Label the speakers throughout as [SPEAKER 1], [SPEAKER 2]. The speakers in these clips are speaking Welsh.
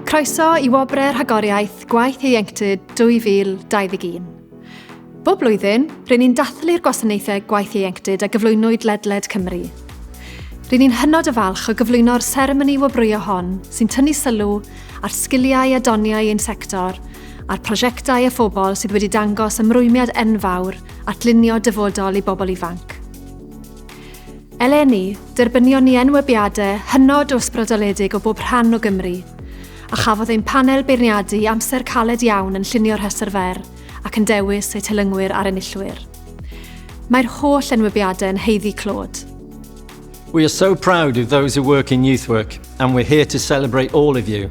[SPEAKER 1] Croeso i Wobrau Rhagoriaeth Gwaith Ieuenctid 2021. Bob blwyddyn, rydyn ni'n dathlu'r gwasanaethau gwaith ieuenctid a gyflwynwyd ledled Cymru. Rydyn ni'n hynod o falch o gyflwyno'r seremoni wobrwyo hon sy'n tynnu sylw ar sgiliau a doniau ein sector a'r prosiectau a phobl sydd wedi dangos ymrwymiad enfawr at lunio dyfodol i bobl ifanc. Eleni, derbynion ni enwebiadau hynod o ysbrydoledig o bob rhan o Gymru, a chafodd ein panel beirniadu amser caled iawn yn llunio rhestr fer ac yn dewis eu telyngwyr a'r enillwyr. Mae'r holl enwebiadau yn haeddu clod. We
[SPEAKER 2] are so proud of those who work in youth work and we're here to celebrate all of you.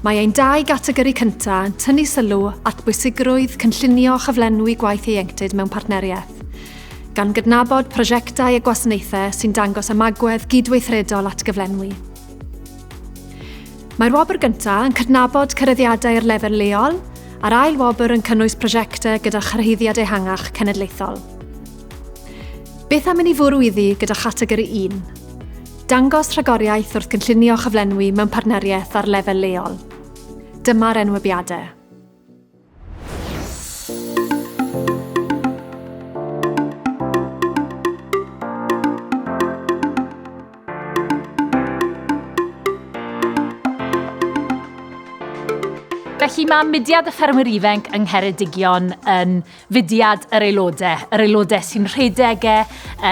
[SPEAKER 1] Mae ein dau gategori cyntaf yn tynnu sylw at bwysigrwydd cynllunio a chyflenwi gwaith ieuenctid mewn partneriaeth, gan gydnabod prosiectau a gwasanaethau sy'n dangos ymagwedd gydweithredol at gyflenwi. Mae'r wobr gyntaf yn cydnabod cyreddiadau ar lefel leol, a'r ail wobr yn cynnwys prosiectau gyda chyrhaeddiad ehangach cenedlaethol. Beth am i ni fwrw iddi gyda chategori un? Dangos rhagoriaeth wrth gynllunio a chyflenwi mewn partneriaeth ar lefel leol. Dyma'r enwebiadau.
[SPEAKER 3] Felly mae mudiad y Ffermwyr Ifainc yng Ngheredigion yn fudiad yr aelodau, yr aelodau sy'n rhedeg e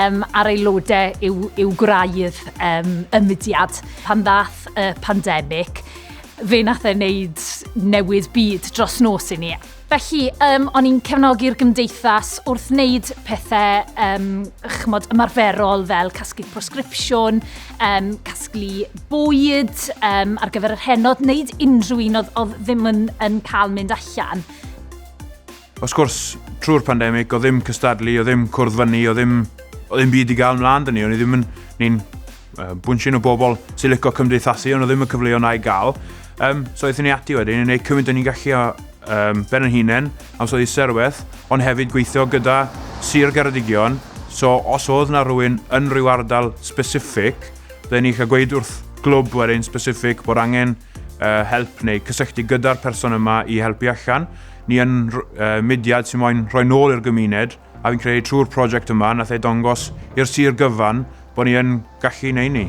[SPEAKER 3] um, a'r aelodau yw, yw gwraidd um, y mudiad. Pan ddath y pandemig, fe nath e wneud newid byd dros nos i ni. Felly, um, o'n i'n cefnogi'r gymdeithas wrth wneud pethau um, chmod, ymarferol fel casglu prosgripsiwn, um, casglu bwyd um, ar gyfer yr henod, wneud unrhyw un oedd, oedd ddim yn, yn cael mynd allan.
[SPEAKER 4] Wrth gwrs, trwy'r pandemig, o ddim cystadlu, o ddim cwrdd fyny, o ddim, o ddim byd i gael mlaen dyn ni. O'n i ddim yn, ni'n uh, bwnsyn o bobl sy'n licio cymdeithasu, ond o ddim y cyfleoedd na'i gael. Um, so eithon ni ati wedyn, i wneud cymaint o'n i'n gallu o um, ben yn hunain, am so i serweth, ond hefyd gweithio gyda Sir Geredigion. So os oedd na rhywun yn rhyw ardal specific, dda ni eich gweud wrth glwb wedyn specific bod angen help neu cysylltu gyda'r person yma i helpu allan. Ni yn mudiad sy'n moyn rhoi nôl i'r gymuned a fi'n credu trwy'r prosiect yma nath e dongos i'r sir gyfan bod ni yn gallu neu ni.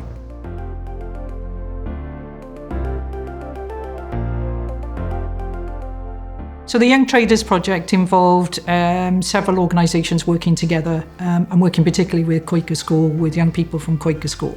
[SPEAKER 5] So the Young Traders project involved um, several organisations working together um, and working particularly with Quaker School, with young people from Quaker School.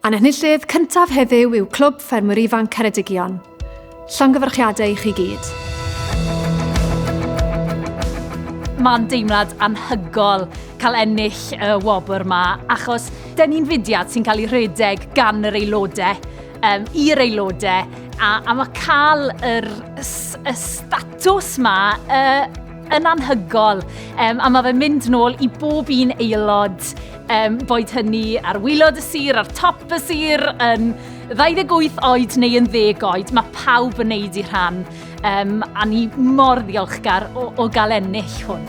[SPEAKER 1] A'n enillydd cyntaf heddiw yw Clwb Ffermwyr Ifanc Ceredigion. Llongyfarchiadau i chi gyd.
[SPEAKER 3] Mae'n deimlad anhygol cael ennill y wobr yma, achos dyn ni'n fudiad sy'n cael ei rhedeg gan yr aelodau, um, i'r aelodau, a, a mae cael yr, y statws yma uh, yn anhygol. Um, a mae fe'n mynd nôl i bob un aelod Um, boed hynny ar wylod y sir, ar top y sir, yn 28 oed neu yn ddeg oed, mae pawb yn neud i rhan. Um, a ni mor ddiolchgar o, o gael ennill hwn.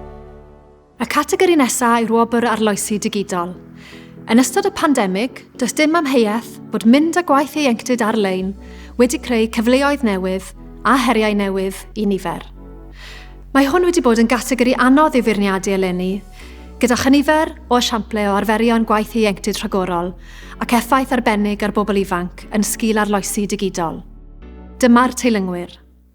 [SPEAKER 1] Y categori nesaf yw'r wobr arloesi digidol. Yn ystod y pandemig, does dim amheuaeth bod mynd â gwaith ieuenctid ar-lein wedi creu cyfleoedd newydd a heriau newydd i nifer. Mae hwn wedi bod yn gategori anodd i'w feirniadu eleni, gyda chynifer o esiamplau o arferion gwaith ieuenctid rhagorol ac effaith arbennig ar bobl ifanc yn sgil arloesi digidol. Dyma'r teilyngwyr.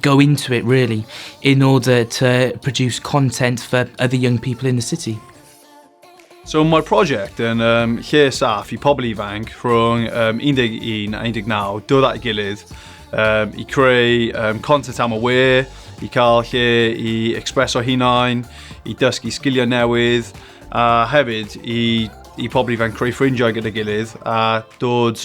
[SPEAKER 6] go into it really in order to produce content for other young people in the city.
[SPEAKER 7] So mae'r prosiect yn um, lle saff i pobl ifanc rhwng um, 11 a 19 dod at gilydd um, i creu um, content am y we, i cael lle i expreso hunain, i dysgu sgiliau newydd, a hefyd i, i pobl ifanc creu ffrindiau gyda gilydd a dod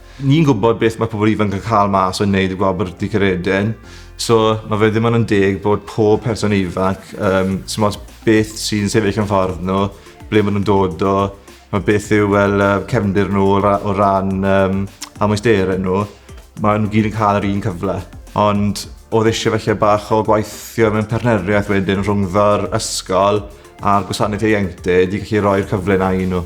[SPEAKER 8] Ni'n gwybod beth mae pobl ifanc yn cael mas o wneud y Gwlad Byrddau Caeredin, so mae fe ddim ond yn deg bod pob person ifanc, um, sy'n ots beth sy'n sefyll yn ffordd nhw, ble maen nhw'n dod o, mae beth yw well, uh, cefndir nhw o ran um, amwysterau nhw, maen nhw gyd yn cael yr un cyfle. Ond oedd eisiau felly bach o gwaithio mewn partneriaeth wedyn rhwngddo'r ysgol a'r gwasanaeth ieuenctid i gallu rhoi'r cyfle na i nhw.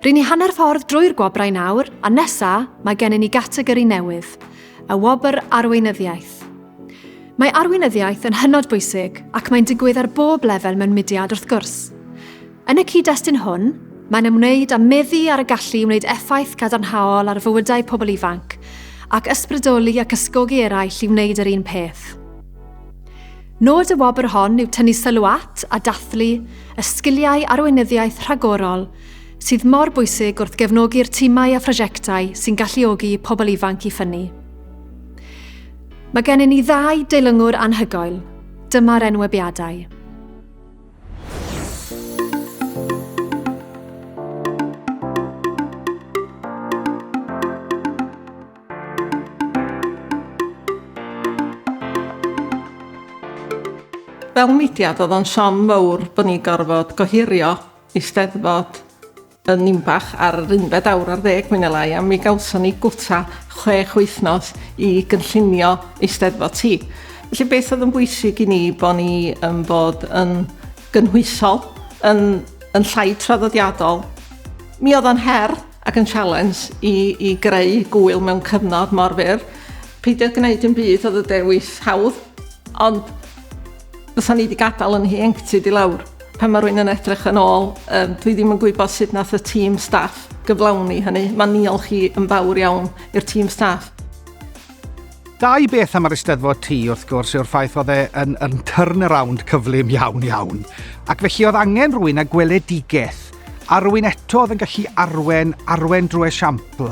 [SPEAKER 1] Ry'n ni hanner ffordd drwy'r gwobrau nawr, a nesa, mae gennym ni gategori newydd, y wobr arweinyddiaeth. Mae arweinyddiaeth yn hynod bwysig ac mae'n digwydd ar bob lefel mewn mudiad wrth gwrs. Yn y cyd-destun hwn, mae'n ymwneud â meddu ar y gallu i wneud effaith gadarnhaol ar fywydau pobl ifanc, ac ysbrydoli ac ysgogi eraill i wneud yr un peth. Nod y wobr hon yw tynnu sylw at a dathlu y sgiliau arweinyddiaeth rhagorol sydd mor bwysig wrth gefnogi'r timau a phrosiectau sy'n galluogi pobl ifanc i ffynnu. Mae gennym ni ddau deilwngwr anhygoel. Dyma'r enwebiadau.
[SPEAKER 9] Fel mudiad oedd o'n siom mowr bod ni'n gorfod gohirio Eisteddfod yn Ninbach ar yr unfed awr ar ddeg mwy ne' lai a mi gawson ni gwta chwech wythnos i gynllunio Eisteddfod ti. Felly beth oedd yn bwysig i ni bo' ni yn bod yn gynhwysol yn yn llai traddodiadol. Mi oedd o'n her ac yn sialens i i greu gŵyl mewn cyfnod mor fyr. Peidio gwneud dim byd oedd y dewis hawdd, ond fysa ni wedi gadael yn hieuenctid i lawr. Pan mae rwy'n yn edrych yn ôl, um, dwi ddim yn gwybod sut nath y tîm staff gyflawni hynny. Mae niol chi yn fawr iawn i'r tîm staff.
[SPEAKER 3] Dau beth am yr Eisteddfod Tŷ, wrth gwrs, yw'r ffaith oedd e yn, yn turnaround cyflym iawn iawn. Ac felly oedd angen rwy'n a gweledigaeth Arwyn eto oedd yn gallu arwen, arwen drwy esiampl,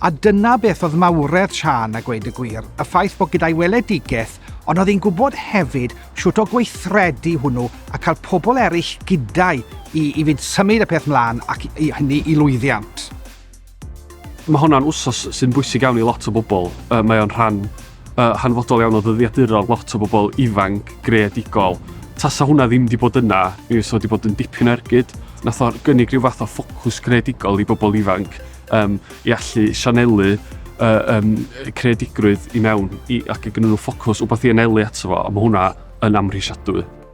[SPEAKER 3] a dyna beth oedd mawredd Siân a gweud y gwir, y ffaith bod gyda'i weledigaeth, ond oedd hi'n gwybod hefyd shwt o gweithredu hwnnw a cael pobl eraill gyda'i i, i fynd symud y peth mlaen ac i hynny i lwyddiant.
[SPEAKER 5] Mae hwn yn wsos sy'n bwysig iawn i lot o bobl. Uh, mae o'n rhan uh, hanfodol iawn o ddyddiaduron lot o bobl ifanc, greadigol. Tasa hwnna ddim wedi bod yna, mi fysa wedi bod yn dipyn o ergyd. Nath o'r gynnig rhyw fath o ffocws greadigol i bobl ifanc um, i allu sianelu uh, um, creadigrwydd i mewn i, ac i gynnwys ffocws wbeth i anelu ato fo, a mae hwnna yn amhrisiadwy.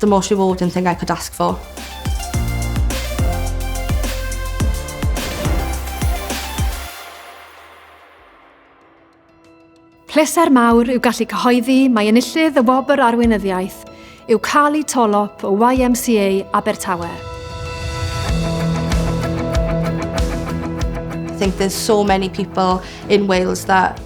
[SPEAKER 10] The most rewarding thing I could ask for.
[SPEAKER 1] Pleser mawr yw gallu cyhoeddi mae enillydd y Wobr Arweinyddiaeth yw Carly Tolop o YMCA Abertawe.
[SPEAKER 10] think there's so many people in Wales that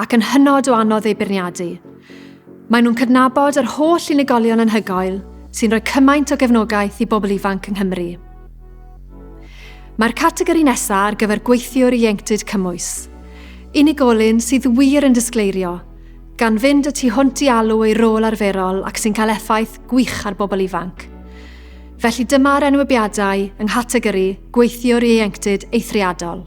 [SPEAKER 1] ac yn hynod o anodd eu beirniadu. Maen nhw'n cydnabod yr holl unigolion anhygoel sy'n rhoi cymaint o gefnogaeth i bobl ifanc yng Nghymru. Mae'r categori nesaf ar gyfer gweithiwr ieuenctid cymwys. Unigolyn sydd wir yn disgleirio, gan fynd y tu hwnt i alw ei rôl arferol ac sy'n cael effaith gwych ar bobl ifanc. Felly dyma'r enwebiadau yng nghategori Gweithiwr Ieuenctid Eithriadol.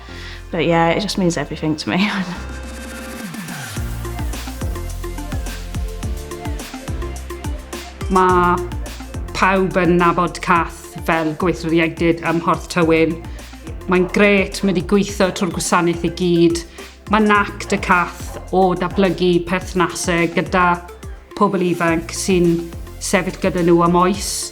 [SPEAKER 11] But yeah, it just means everything to me.
[SPEAKER 12] Mae pawb yn nabod Cath fel gweithwyr ieuenctid ym Mhorth Tywyn. Mae'n gret, mae wedi gweithio trwy'r gwasanaeth i gyd. Mae nac dy Cath o datblygu perthnasau gyda pobl ifanc sy'n sefyll gyda nhw am oes.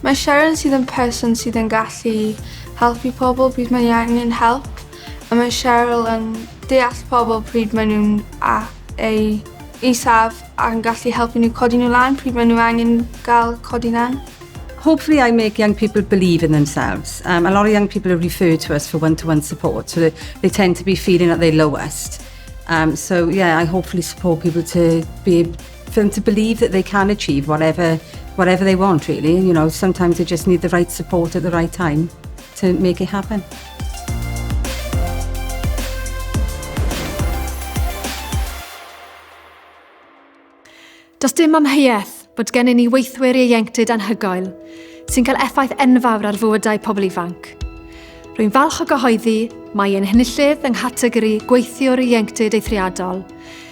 [SPEAKER 8] Mae
[SPEAKER 13] Sharon sydd yn person sydd yn gallu helpu pobl pryd mae angen help, a mae Cheryl yn deall pobl pryd mae nhw'n a eu isaf a'n gallu helpu nhw codi nhw lan pryd mae nhw angen gael codi lan. Hopefully I
[SPEAKER 14] make young people believe in themselves. Um, a lot of young people are referred to us for one-to-one -one support, so they, they tend to be feeling at their lowest. Um, so yeah, I hopefully support people to be for them to believe that they can achieve whatever, whatever they want, really. You know, sometimes they just need the right support at the right time to make it happen.
[SPEAKER 1] Does dim amheuaeth bod gen i ni weithwyr ieuenctid anhygoel sy'n cael effaith enfawr ar fywydau pobl ifanc. Rwy'n falch o gyhoeddi mae ein henillydd yng nghategori gweithiwr ieuenctid eithriadol,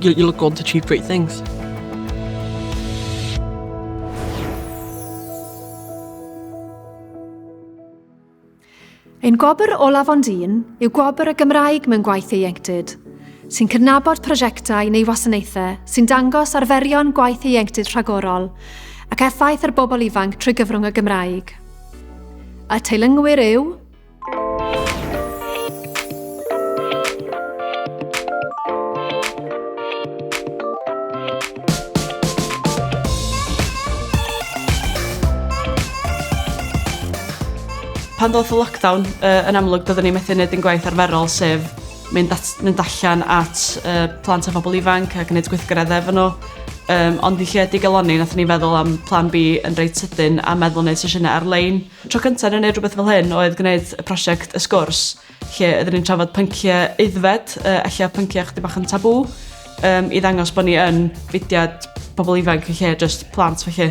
[SPEAKER 15] You, you look good to achieve great things.
[SPEAKER 1] Ein gwobr olaf ond un yw gwobr y Gymraeg mewn gwaith ieuenctid, sy'n cydnabod prosiectau neu wasanaethau sy'n dangos arferion gwaith ieuenctid rhagorol ac effaith ar bobl ifanc trwy gyfrwng y Gymraeg. Y teilyngwyr yw
[SPEAKER 14] pan ddoth y lockdown, uh, yn amlwg, doeddwn ni'n methu wneud yn gwaith arferol, sef mynd, at, mynd allan at uh, plant a phobl ifanc a gwneud gweithgaredd efo nhw. Um, ond i lle digaloni, nath ni feddwl am plan B yn reit sydyn a meddwl wneud sesiynau ar-lein. Tro cynta o'n i'n neud rwbeth fel hyn oedd gwneud y prosiect Y Sgwrs lle oedden ni'n trafod pyncie aeddfed yy ella pyncie chydig bach yn tabŵ yym i ddangos bo' ni yn fudiad pobol ifanc yn lle jyst plant felly.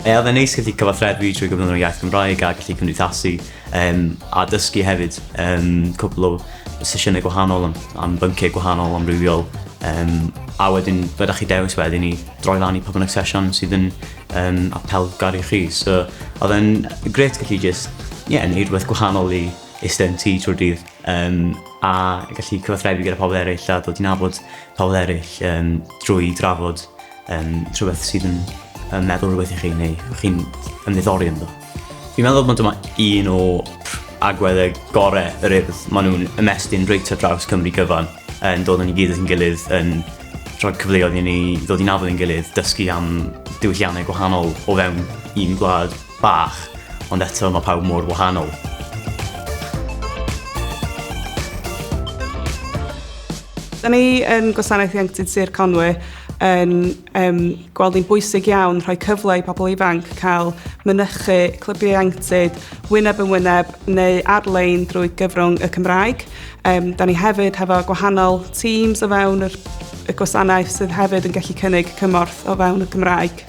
[SPEAKER 14] Ie
[SPEAKER 16] odd e'n neis gallu cyfathrebu trwy gyfrwng yr iaith Gymraeg a gallu cymdeithasu yym a dysgu hefyd yym cwpwl o sesiyne gwahanol am am byncie gwahanol amrywiol yym a wedyn be' 'dach chi dewis wedyn i droi lan i pa bynnag sesiwn sydd yn um, apelgar i chi. So, oedd e'n gret gallu just, ie, yeah, neud rhywbeth gwahanol i eistedd yn tŷ trwy'r dydd. Um, a gallu cyfathrebu gyda pobl eraill a dod i nabod pobl eraill um, drwy drafod um, rhywbeth sydd yn, yn meddwl rhywbeth i chi neu chi'n ymddiddori ynddo. Fi'n meddwl bod dyma un o agweddau gorau yr urdd. Maen nhw'n ymestyn reit ar draws Cymru gyfan, yn dod yn ei gilydd yn gilydd, yn rhoi cyfleoedd i ni ddod i'n afel yn gilydd, dysgu am diwylliannau gwahanol o fewn un gwlad bach, ond eto mae pawb mor wahanol.
[SPEAKER 14] Da ni yn Gwasanaeth Ieuenctid Sir Conwy yn Yym, gweld ni'n bwysig iawn rhoi cyfle i pobl ifanc cael mynychu clybiau ieuenctid wyneb yn wyneb neu ar-lein drwy gyfrwng y Cymraeg. Yym, da ni hefyd hefo gwahanol teams o fewn yr, y gwasanaeth sydd hefyd yn gallu cynnig cymorth o fewn y Gymraeg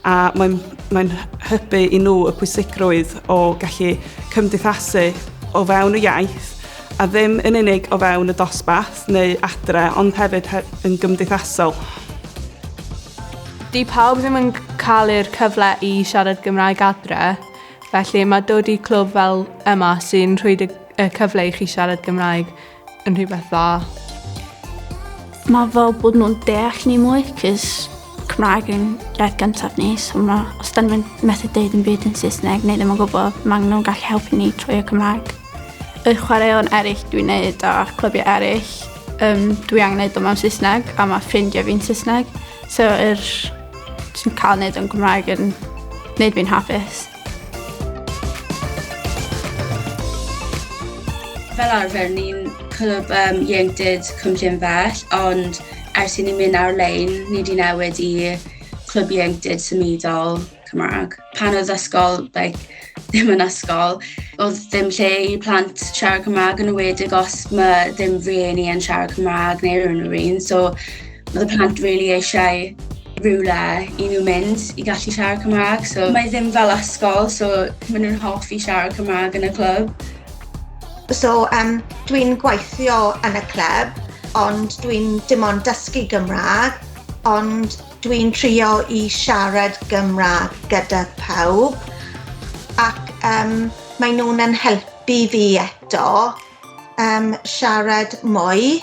[SPEAKER 14] a mae'n mae'n hybu i nhw y pwysigrwydd o gallu cymdeithasu o fewn y iaith a ddim yn unig o fewn y dosbarth neu adre ond hefyd yn gymdeithasol.
[SPEAKER 10] Di pawb ddim yn cael yr cyfle i siarad Gymraeg adre, felly mae dod i clwb fel yma sy'n rhoi y cyfle i chi siarad Gymraeg yn rhywbeth dda. Mae
[SPEAKER 6] fel bod nhw'n deall ni mwy, cys Cymraeg yn iaith gyntaf ni, so ma, os da ni'n methu deud yn byd yn Saesneg neu ddim yn gwybod, mae nhw'n gallu helpu ni trwy y Cymraeg. Y chwaraeon eraill dwi'n neud a clybiau eraill, um, dwi angen neud o mewn Saesneg a mae ffrindiau fi'n Saesneg. So yr, dwi'n cael neud o'n Cymraeg yn neud fi'n hapus.
[SPEAKER 7] Fel arfer, ni'n clwb um, ieuenctid Cwm Llynfell, ond ers i ni mynd ar-lein, ni wedi newid i clwb ieuenctid symudol Cymraeg. Pan oedd ysgol, like, ddim yn ysgol, oedd ddim lle i plant siarad Cymraeg yn ywedig os mae ddim rhieni yn siarad Cymraeg neu rhywun rhywun. So, Oedd y plant really eisiau rhywle i nhw mynd i gallu siarad Cymraeg. So, mae ddim fel ysgol, so maen nhw'n hoffi siarad Cymraeg yn y clwb. So,
[SPEAKER 17] um, dwi'n gweithio yn y clwb, ond dwi'n dim ond dysgu Gymraeg, ond dwi'n trio i siarad Gymraeg gyda pawb ac um, mae nhw'n yn helpu fi eto um, siarad mwy.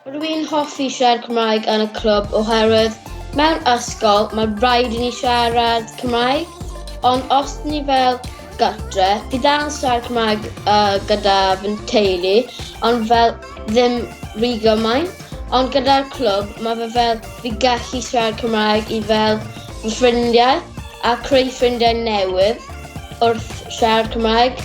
[SPEAKER 18] Rwy'n hoffi siarad Cymraeg yn y clwb oherwydd mewn ysgol mae rhaid i ni siarad Cymraeg, ond os ni fel gartre, fi dal yn siarad Cymraeg uh, gyda fy teulu, ond fel ddim rhy gymaint. Ond gyda'r clwb, mae fe fel fi gallu siarad Cymraeg i fel fy ffrindiau a creu ffrindiau newydd wrth siarad Cymraeg.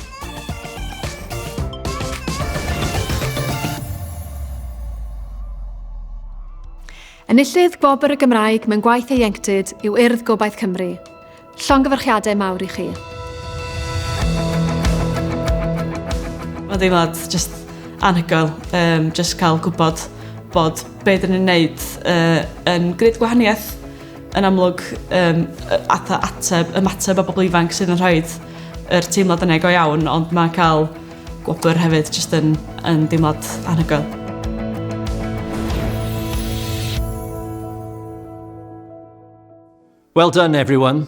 [SPEAKER 1] Enillydd Gwobr y Gymraeg mewn gwaith ieuenctid yw Urdd Gobaith Cymru. Llongyfarchiadau mawr i chi.
[SPEAKER 19] Mae'n ddeimlad just anhygoel, um, just cael gwybod bod be dyn ni'n wneud uh, yn gwneud gwahaniaeth yn amlwg um, atha ateb, ymateb a bobl ifanc sydd yn rhaid yr teimlad yna go iawn, ond mae cael gwobr hefyd jyst yn, yn deimlad anhygoel.
[SPEAKER 2] Well done everyone.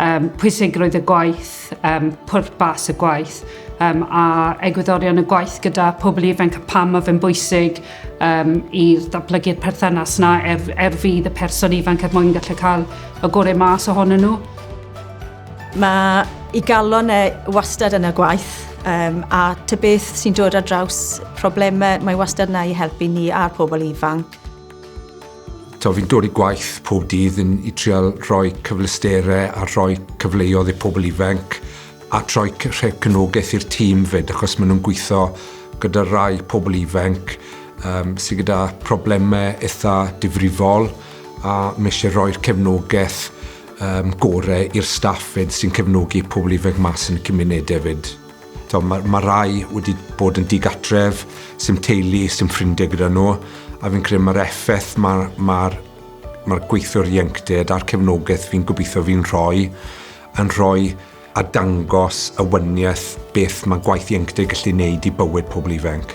[SPEAKER 12] um, pwysigrwydd y gwaith, um, pwrpas y gwaith um, a egwyddorion y gwaith gyda pobl ifanc a pam mae fe'n bwysig um, i ddatblygu'r perthynas na er, er fydd y person ifanc er mwyn gallu cael y gorau mas ohonyn nhw.
[SPEAKER 20] Mae i galon e wastad yn y gwaith um, a ty beth sy'n dod ar draws problemau mae wastad yna i helpu ni a'r pobl ifanc.
[SPEAKER 21] To, fi'n dod i gwaith pob dydd yn i trial rhoi cyfleusterau a rhoi cyfleodd i pobl ifanc a troi rhoi cynogaeth i'r tîm fyd achos maen nhw'n gweithio gyda rai pobl ifanc um, sydd gyda problemau eitha difrifol a mae eisiau rhoi'r cefnogaeth um, gorau i'r staff fyd sy'n cefnogi pobl ifanc mas yn y cymunedau fyd. So, mae, mae rai wedi bod yn digatref, sy'n teulu, sy'n ffrindiau gyda nhw, a fi'n credu mae'r effaith mae'r ma ma gweithiwr ieuenctid a'r cefnogaeth fi'n gobeithio fi'n rhoi yn rhoi a dangos y wyniaeth beth mae gwaith ieuenctid gallu wneud i bywyd pobl ifanc.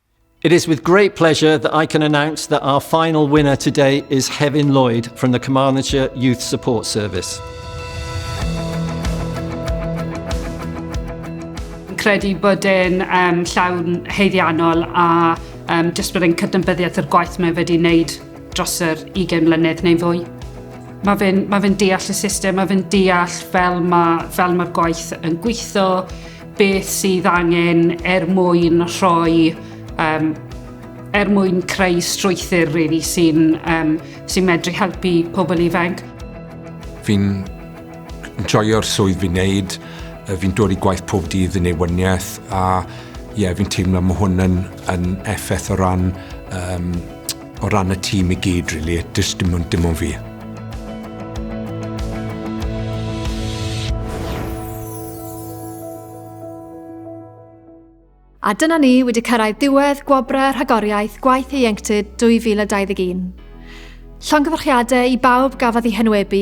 [SPEAKER 2] It is with great pleasure that I can announce that our final winner today is Hefin Lloyd from the Carmarthenshire Youth Support Service.
[SPEAKER 12] credu bod e'n um, llawn heiddiannol a um, jyst bod e'n cydnabyddiaeth o'r gwaith mae wedi wneud dros yr 20 mlynedd neu fwy. Mae fe'n ma fe deall y system, mae fe'n deall fel mae'r ma, fel mae gwaith yn gweithio, Beth sydd angen er mwyn rhoi um, er mwyn creu strwythyr really, sy'n um, sy medru helpu pobl ifanc. Fi'n
[SPEAKER 21] joio'r swydd fi'n neud, fi'n dod i gwaith pob dydd yn ei wyniaeth a ie, yeah, fi'n teimlo mae hwn yn, yn effaith o ran um, O ran y tîm i gyd rili, does dim ond dim ond fi.
[SPEAKER 1] A dyna ni wedi cyrraedd diwedd gwobrau rhagoriaeth gwaith ieuenctid 2021. Llongyfarchiadau i bawb gafodd eu henwebu,